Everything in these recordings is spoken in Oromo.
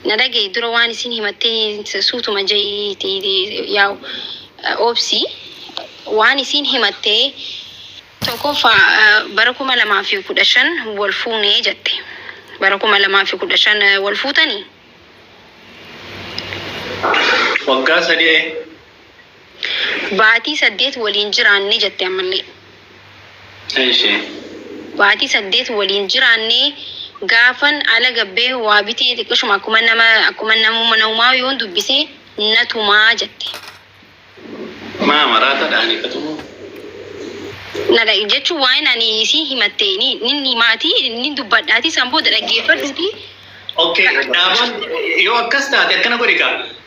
Na dhagahi dura waan isiin himattee suutuma ja'iiti yaa'u obsi waan isiin himattee tokkoffaa bara kuma lamaa fi kudha shan wal fuunee jette bara kuma lamaa fi kudha shan wal fuutanii Waggaa sadii Baatii saddeet waliin jiraanne jette ammallee. Eshi. Baatii saddeet waliin jiraannee gaafan ala gabbee waa bitee xiqqishuma akkuma nama akkuma namuma namumaa yoon dubbise na tumaa jette. Maa maraatadha ani ka tumu? Na dhag jechuun waa'een ani isii himatte ni nin himaatii nin dubbadhaatii san booda dhaggeeffadhuutii Okay ka. Dhaabaan yoo akkas taate akkana godhi kaa.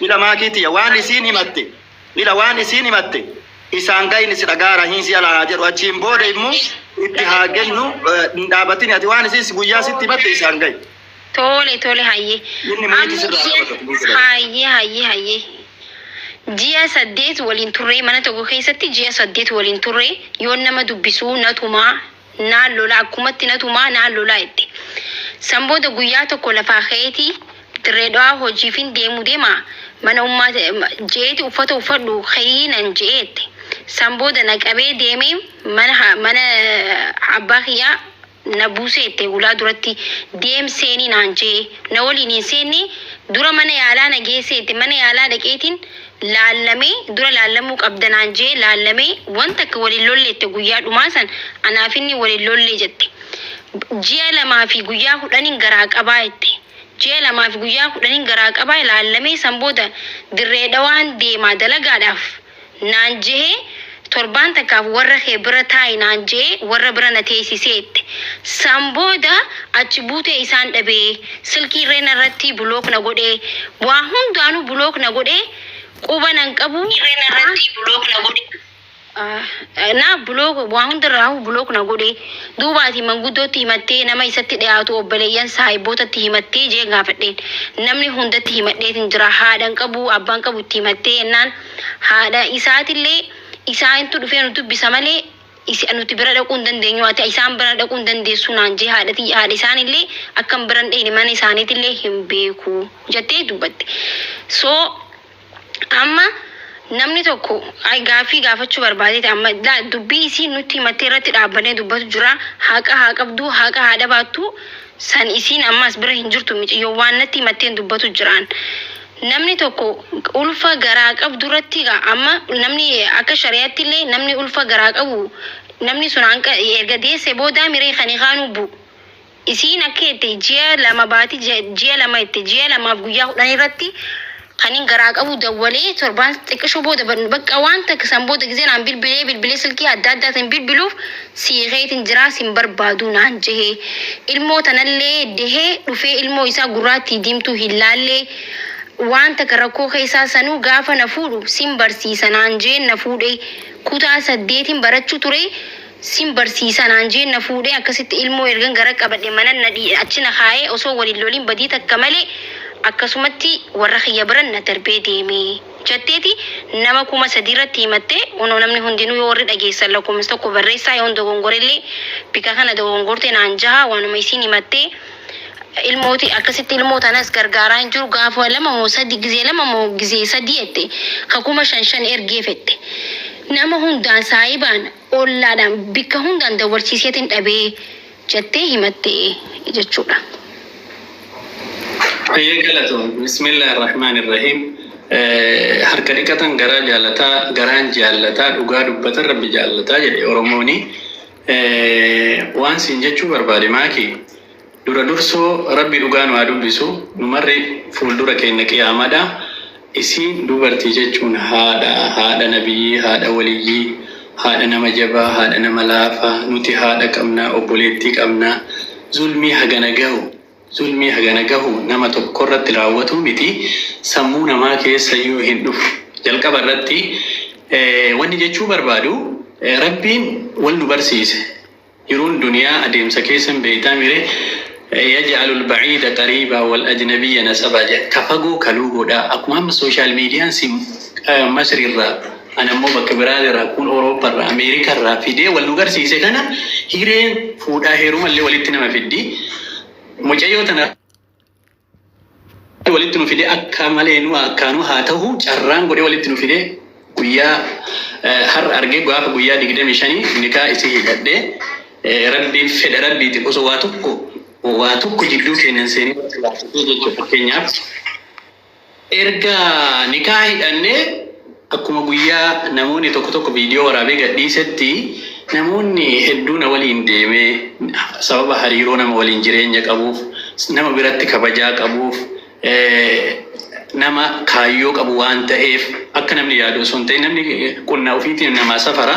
Ila maakii tiya waan isiin himatte Ila waan isiin himatte isaan gayni si dhagaa rahiin si ala haa jedhu achiin booda immo itti haa gennu hin dhaabatini ati waan isiin guyyaa sitti himatte isaan gayi. Tole tole hayyee. Inni Amma meetii sirraa ji'a qabata kunuunsa dhabee. hayyee hayyee hayyee. Ji'a saddeet waliin turree mana tokko keessatti ji'a saddeet waliin turree yoon nama dubbisuu na tumaa naan lolaa akkumatti na tumaa naan lolaa jette. San booda guyyaa tokko lafaa ka'eeti Dirree Dhawaa hojiifin deemu deema mana ummaa je'eeti uffata uffadhu kayii nan je'e jette. San booda na qabee deemee mana mana abbaa kiyyaa na buuse jette hulaa duratti deem seeni naan je'e na waliin hin seenne dura mana yaalaa na geesse jette mana yaalaa dhaqeetin laallamee dura laallamuu qabda naan je'ee laallamee wan takka wal hin lolle jette guyyaa dhumaa san anaaf inni wal hin lolle jette ji'a lamaa fi guyyaa kudhanin garaa qabaa jette ji'a lamaa fi guyyaa kudhanin garaa qabaa laallamee san booda dirree dhawaan deemaa dalagaadhaaf naan je'ee Torbaan takkaaf warra kee bira taa'i naan je'ee warra bira na teeysiseette. San booda achi buutee isaan dhabe. Silkii illee narratti block na godhe. Waa hundaanuu block na godhe. Quba nan qabu. Na block waa hundarraahuu block na godhe. Duuba ati manguddootti himattee, nama isatti dhiyaatu, obboleeyyan, saahibbootatti himattee? je'een gaafadheen. Namni hundatti himadheetin jira. Haadha hin qabu, abbaa hin qabu itti himattee? jennaan. Haadha isaatillee, Isaantu dhufee nu dubbisa malee, is, nuti bira dhaquu hin dandeenyu, ati isaan bira dhaquu hin dandeessu naan jee, haadha tiyya, haadha isaanillee akkan bira hin dheyne, mana isaaniitillee hin beeku jettee dubbatte. So, amma namni tokko ay, gaaffii gaafachuu barbaadeeti amma la, dubbii isiin nutti himattee irratti dhaabbannee dubbatu jira, haqa haa qabdu, haqa haa dhabaattu, san isiin amma as bira hin jirtu miciyyoo, waan natti himatteen dubbatu jiraan. Namni tokko ulfa garaa qabdu irratti egaa amma namni akka shari'aatti illee namni ulfa garaa qabu namni sun hanqa erga deesse boodaa miree kan hikaa nubbu isiin akka jette ji'a lama baati ja- ji'a lama jette ji'a lamaaf guyyaa kudhan irratti kanin garaa qabu dawwalee torbaan xiqqisho booda ban- bakka waan takka san booda gizee naan bilbilee bilbilee silkii adda addaatiin bilbiluuf sii keetin jiraa sin barbaaduu naan jehee ilmoo tanallee dehee dhufee ilmoo isaa gurraattii diimtuu hin laallee waan taka rakkoo keessaa sanuu gaafa na fuudhu sin barsiisa naan jeen na fuudhee kutaa saddeetin barachuu turee sin barsiisa naan jeen na fuudhee akkasitti ilmoo ergan gara qabadhe manan na dhii achi na kaayee osoo wal hin lolin badii takka malee akkasumatti warra kiyya biran na darbee deemee. jetteeti nama kuma sadii irratti himatte kunoo namni hundinuu yoo warri dhageessan lakkoomsa tokko barreessaa yoon dogongorellee bika kana dogongorte naan jaha waanuma isiin himatte ilmooti akkasitti ilmoo tanas gargaaraa hin jiru gaafa lama moo sadi gizee lama moo gizee sadii jette ka kuma shan shan ergee fette nama hundaan saahibaan ollaadhaan bikka hundaan dabarsiiseetin dhabee jettee himatte jechuudha. Hayyee galatoomi. Bismillah Ar-Rahmaan Ar-Rahiim Harka dhiqatan garaa jaalata, garaan jaallata, dhugaa dubbatan Rabbi jaallata jedhe Oromooni. Waan siin jechuu barbaade Maaki, dura dursoo Rabbi dhugaa nu haa dubbisu, nu marri fuuldura keenna qiyaamadha. Isiin dubartii jechuun haadha, haadha nabiyyii, haadha waliyyii, haadha nama jabaa, haadha nama laafaa, nuti haadha qabna, obboleettii qabna, zulmii hagana gahu, zulmii hagana gahu nama tokkorratti raawwatuu miti, sammuu namaa keessayyuu hin dhufu. Jalqaba irratti wanni jechuu barbaadu, Rabbiin wal nu barsiise. Jiruun duniyaa adeemsa keessa hin beeytaamire yaj'alu al-ba'iida qariiba wal-ajnabiyya nasaba jedha ka fagoo ka luugoo dha akkuma amma social median si masri irraa an ammoo bakka biraa irraa kuun Europa irraa America irraa fidee wal nu garsiise kana hireen fuudhaa heeruma illee walitti nama fiddi mucayyoo tana walitti nu fidee akka malee nu akkaanuu haa ta'uu carraan godhee walitti nu fidee guyyaa har'a argee gaafa guyyaa digdamii shanii nikaa isii hidhadhee rabbiin fedha rabbiitiin osoo waa tokko waa tokko jidduu keenyan seenee jechuudha fakkeenyaaf Erga nikaha hidhannee akkuma guyyaa namoonni tokko tokko viidiyoo waraabee gadhiisetti namoonni hedduu na waliin deeme sababa hariiroo nama waliin jireenya qabuuf nama biratti kabajaa qabuuf nama kaayyoo qabu waan ta'eef akka namni yaadu osoo hin ta'in namni qonna ofiitiin namaa safara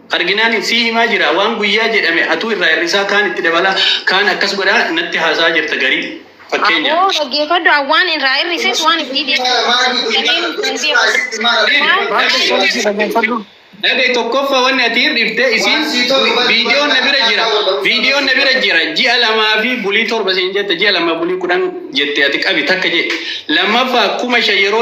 arginaanin sii himaa jiraa waan guyyaa jedhame atuu irraa hir'isaa kaan itti dabalaa kaan akkas godhaa natti haasa'aa jirta garii fakkeenyaaf. Aboo dhaggeeffadhu an waan irraa hir'ises waan ittii deebi'u Dhagahi tokkoffaa wanni ati hir'ifte isiin viidiyoon na bira jira viidiyoon na bira jira ji'a lamaa fi bulii torba siin jette ji'a lamaa bulii kudhan jette ati qabi takka jee lammaffaa kuma shan yeroo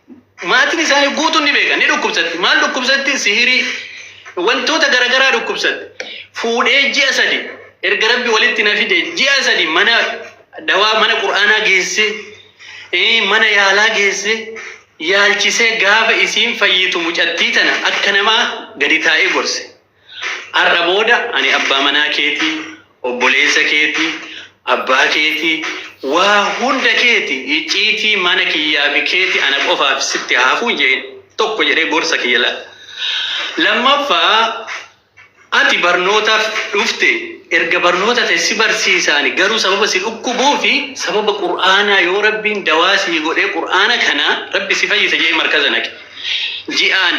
Maatiin isaanii guutuun ni beeka, ni dhukkubsatti. Maal dhukkubsatti? Sihirii, wantoota garagaraa dhukkubsatti. Fuudhee ji'a sadi erga rabbi walitti na fide ji'a sadi mana dawaa mana qur'aanaa geesse, eh, mana yaalaa geesse, yaalchisee gaafa isiin fayyitu mucattii tana akka namaa gadi taa'ee gorse. Har'a booda ani abbaa manaa keetii, obboleessa keetii, abbaa keetii, waa hunda keeti, icciitii mana kiyyaa fi keeti ana qofaaf sitti haa hafu hin jedhin. Tokko jedhee gorsa kiyya laal. Lammaffaa ati barnootaaf dhufte erga barnoota ta'e si barsiisaani garuu sababa si dhukkubuu fi sababa qur'aanaa yoo rabbiin dawaa sii godhee qur'aana kana rabbi si fayyisa jedhee markaza naqi. Ji'aan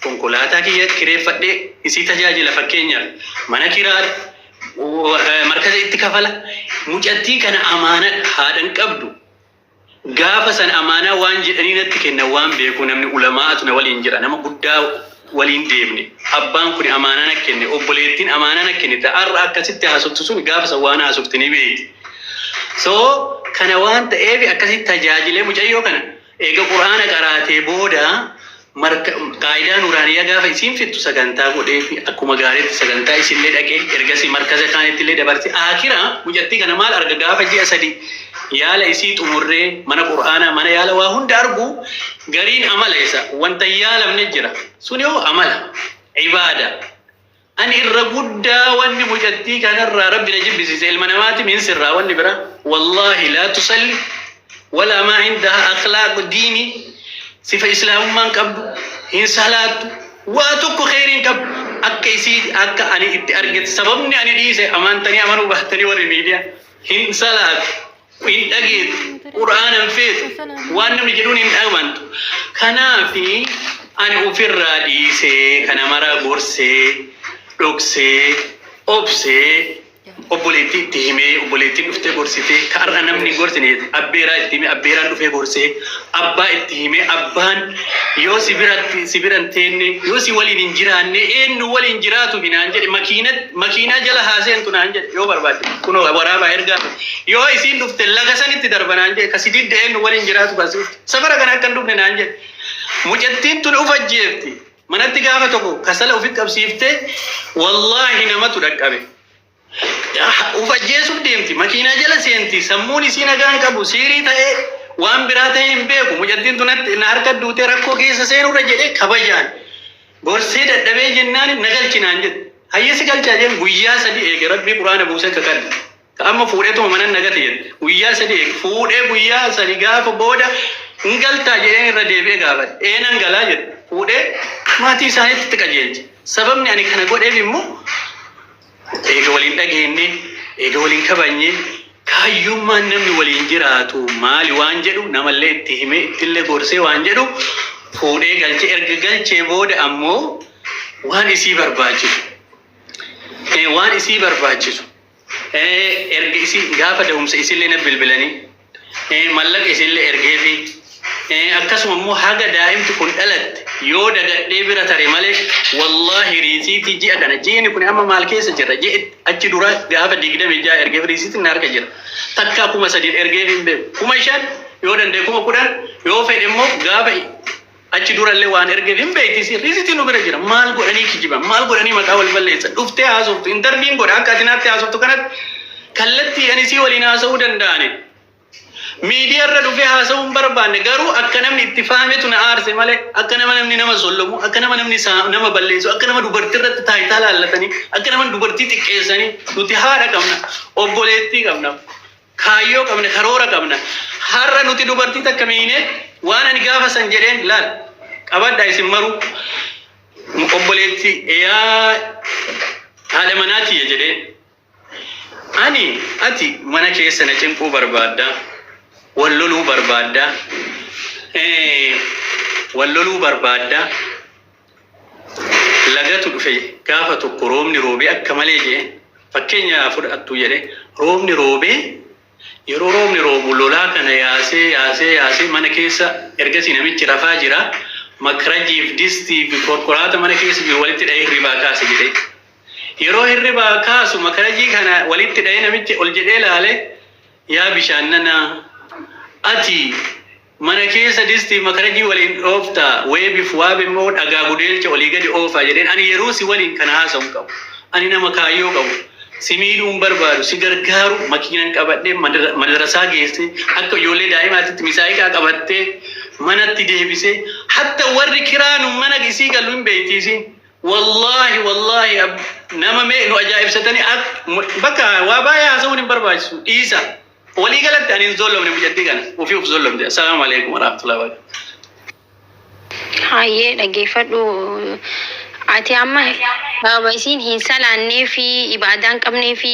Konkolaataa kiyya kireeffadhee isii tajaajila fakkeenyaaf mana kiraadha, markaza itti kafala, mucattiin kana amaanadha haadha hin qabdu gaafa san amaanaa waan jedhanii natti kennan waan beekuu namni ulamaa'atu na waliin jira nama guddaa waliin deemne abbaan kuni amaanaa na kenne obboleettiin amaanaa na kennite har'a akkasitti haasoftu suni gaafa san waan haasofte ni beekti so kana waan ta'eef akkasitti tajaajilee mucayyoo kana Eega Qur'aana qaraatee booda marka qaa'idaa nuuraaniyaa gaafa isiin fixxu sagantaa godheefi akkuma gaariitti sagantaa isillee dhaqee ergasii markaza kaanittillee dabarse aakhira mucattii kana maal arga gaafa ji'a sadi yaala isii xumurree mana qur'aanaa mana yaala waa hunda argu gariin amala isa wanta hin yaalamne jira suni hoo amala ibaada Ani irra guddaa wanni mucattii kanarraa rabbi na jibbisiise ilma namaati min sirraa wanni bira wallaahi laa tusalli walaa maa indaha akhlaaq diini sifa islaamummaan qabdu hin salaattu waa tokko kheyriin qabdu akka isii akka ani itti argetti sababni ani dhiise amaantanii amanuu bahtanii warri miidiyaa hin salaatu hin dhageetu qur'aana hin feetu waan namni jedhuun hin dhagmantu kanaafi ani ofirraa dhiisee kana mara gorsee dhoksee obsee obboleettii itti himee obboleettiin dhuftee gorsitee ka har'a namni hin gorsine jette abbeeraa itti himee abbeeraan dhufee gorsee abbaa itti himee abbaan yoo si biratti si bira hin teenne yoo si waliin hin jiraanne eenyu waliin jiraatu hinaan jedhe makiina makiinaa jala haaseentu naan jedhe yoo barbaadde kunoo waraabaa ergaa Yoo isiin dhufte laga sanitti darba naan jedhe ka si didde eennu waliin jiraatu kan si dhufte safara kana akka hin dhufne naan jedhe mucattiin tun of ajjeefti manatti gaafa tokko kasala ofi qabsiifte wallaahi namatu dhaqqabe of ajjeesuuf deemti makiinaa jala seenti sammuun isii nagaa hin qabu siirii ta'ee waan biraa ta'ee hin beeku mucattiin tun natti- na harka duutee rakkoo keessa seenurra jedhee kabajaan gorsee dadhabee jennaan na galchinaan jedhe hayyesi galchaa jeen guyyaa sadii eege rabbii quraana buusee akka kadhe Ka amma fuudheetuma manan na gate jedhe. Guyyaa sadii eege. Fuudhee guyyaa sadi gaafa booda hin galtaa jedheen irra deebi'ee gaafate. Ee nan galaa jedhe. Fuudhee maatii isaaniitti itti qajeelche. Sababni ani kana godheef immoo eega waliin dhageenne, eega waliin kabajne, kaayyummaan namni waliin jiraatu maali waan jedhu namallee itti himee ittillee gorsee waan jedhu fuudhee galche. Erga galchee booda ammoo waan isii barbaachisu waan isii barbaachisu Erga isin gaafa da'umsa isinlee na bilbilanii mallaqa isinlee ergeefi akkasuma immoo haga daa'imti kun dhalatte yoo dagadhee bira tare malee wallaahi riisiitii ji'a kana ji'ini kun amma maal keessa jirra ji'i achi dura gaafa digdamii ja'a ergeef riisiitiin na harka jira takkaa kuma sadiin ergeef hin beeku kuma shan yoo danda'e kuma kudhan yoo fedhe immoo gaafa Achi durallee waan ergeef hin beekti isiin. Riisitiin nu bira jira. Maal godhanii kijiban? Maal godhanii maqaa wal balleessan? Dhuftee haasoftu, intarviin godha. Akka ati naatti haasoftu kanatti kallattiidhaan isii waliin haasa'uu danda'ani. Miidiyaa irra dhufee haasa'uu hin barbaanne garuu akka namni itti faametu na aarse malee akka nama namni nama sollomu, akka nama namni saa- nama balleessu, akka nama dubartii irratti taayitaa laallatanii, akka nama dubartii xiqqeessanii nuti haadha qabna, obboleettii qabna. Kaayyoo qabna, karoora qabna. Har'a nuti dubartii takka miine waan ani gaafa san jedheen laal qabadha isin maruu obboleetti yaa haadha manaa tiyya jedhee ani ati mana keessa na cinquu barbaadda wal loluu barbaadda eh, wal loluu barbaadda lagatu dhufe gaafa tokko roobni roobee akka malee je'e fakkeenya fudhattu jedhe roobni roobee yeroo roobni roobu lolaa kana yaasee yaasee yaasee mana keessa ergasii namichi rafaa jira makrajiif distii fi korkoraata mana keessa jiru walitti dha'ee hirribaa kaase jedhe yeroo hirribaa kaasu makarajii kana walitti dha'ee namichi ol jedhee laale yaa bishaan nanaa ati Mana keessa distiif makarajii waliin dhoofta, weebif waab immoo dhagaa gudeelcha olii gadi oofa jedheen ani yeroo si waliin kana haasa'u hin qabu. Ani nama kaayyoo qabu. Si miidhuu hin barbaadu. Si gargaaru makiinan qabadhee madarasaa geessee akka ijoollee daa'imaatitti misaa'iqaa qabattee manatti deebisee hatta warri kiraa nu mana isii gallu hin beeyti isiin. Wallaahi wallaahi nama mee nu ajaa'ibsatanii bakka waa baay'ee haasa'uun hin barbaachisu dhiisa. Walii galatti ani hin zollomne mucattii kana ofii of zollomte. Assalaamu alaikum warahmatullahi wabarakatuh. Hayyee dhageeffadhu. Ati amma sababa isiin hin salaannee fi ibaadaa hin qabnee fi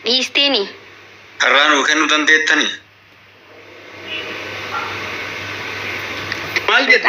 dhiisteeni. Carraa nuu kennuu dandeettanii? Maal jette?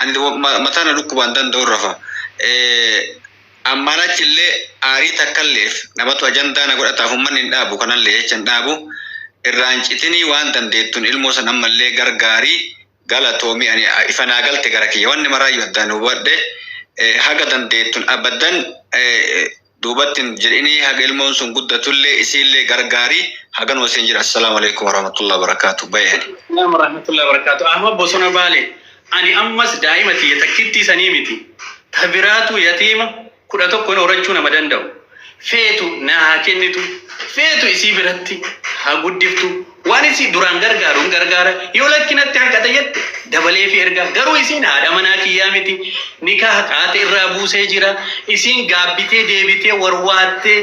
And mataa na dhukkubaan danda'un rafa. Ammaan achi illee aarii takkalleef namatu ajandaa na godhataaf ummanni hin dhaabu kanallee jecha hin dhaabu. Irraa hin citinii waan dandeettun ilmoo san ammallee gargaari. Galatoomi ani ifa naa galte gara kiyya. Wanni maraayyu addaan hubadhe haga dandeettun abadan duubatti hin jedhinii haga ilmoon sun guddatullee isiillee gargaari haganuma siin jedha assalaamu alaikum warahmatullahi wabarakaatu bayani. Assalamu warahmatullahi wabarakaatu Ahmad Bosona Baale ani ammas daa'ima tiyya takkittii sanii miti ta biraatuu yatiima kudha tokkoon horachuu nama danda'u feetu naa haa kennitu feetu isii biratti haa guddiftu Waan isii duraan gargaaruun gargaara, yoo lakki natti hanqate jette dabaleefii erga. Garuu isiin haadha manaa kiyyaa miti, nikaaha qaata irraa buusee jira, isiin gaabbitee deebitee warwaattee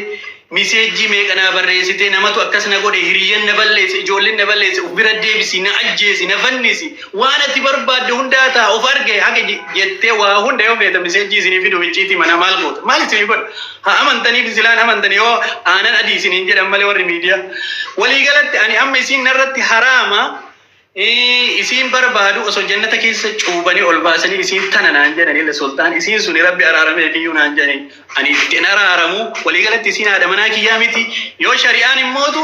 miseejjii meeqa naa barreessitee namatu akkas na godhe, hiriyyan na balleesse, ijoolleen na balleesse, uf bira deebisi, na ajjeesi, na fannisi, waan ati barbaadde hundaa taha, uf arge hage jettee waa hunda yoo feetan miseejjii isinii fiduuf icciitii manaa maal goota? Maal isinii godha? Ha amantaniif sila hin amantan yoo aanan adii isiniin jedhan malee warri miidiyaa. Walii galatti ani amma isiin narratti haraama eh, isiin barbaadu osoo jannata keessa cuubanii ol baasanii isiin tana naan jedhan illa sultaan isiin suni rabbi araaramee fi naan jedhani ani ittiin araaramu walii galatti isiin haadha manaa kiyyaa miti yoo shari'aan hin mootu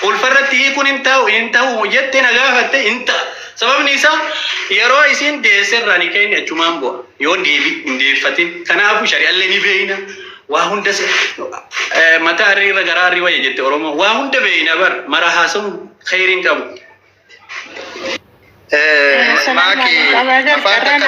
Ulfa irratti hiikuun hin ta'u hin ta'u jette na gaafatte hin ta'a. Sababni isaa yeroo isiin deesse irraa ni keenya achumaan bu'a. Yoo deebi hin deeffatin. Kanaafuu shari'allee ni beeyna. Waa hunda mataa arrii irra garaa arrii wayya jette Oromoo. Waa hunda beeyna bar mara haasa'uun kheyriin qabu. Maaki afaan takka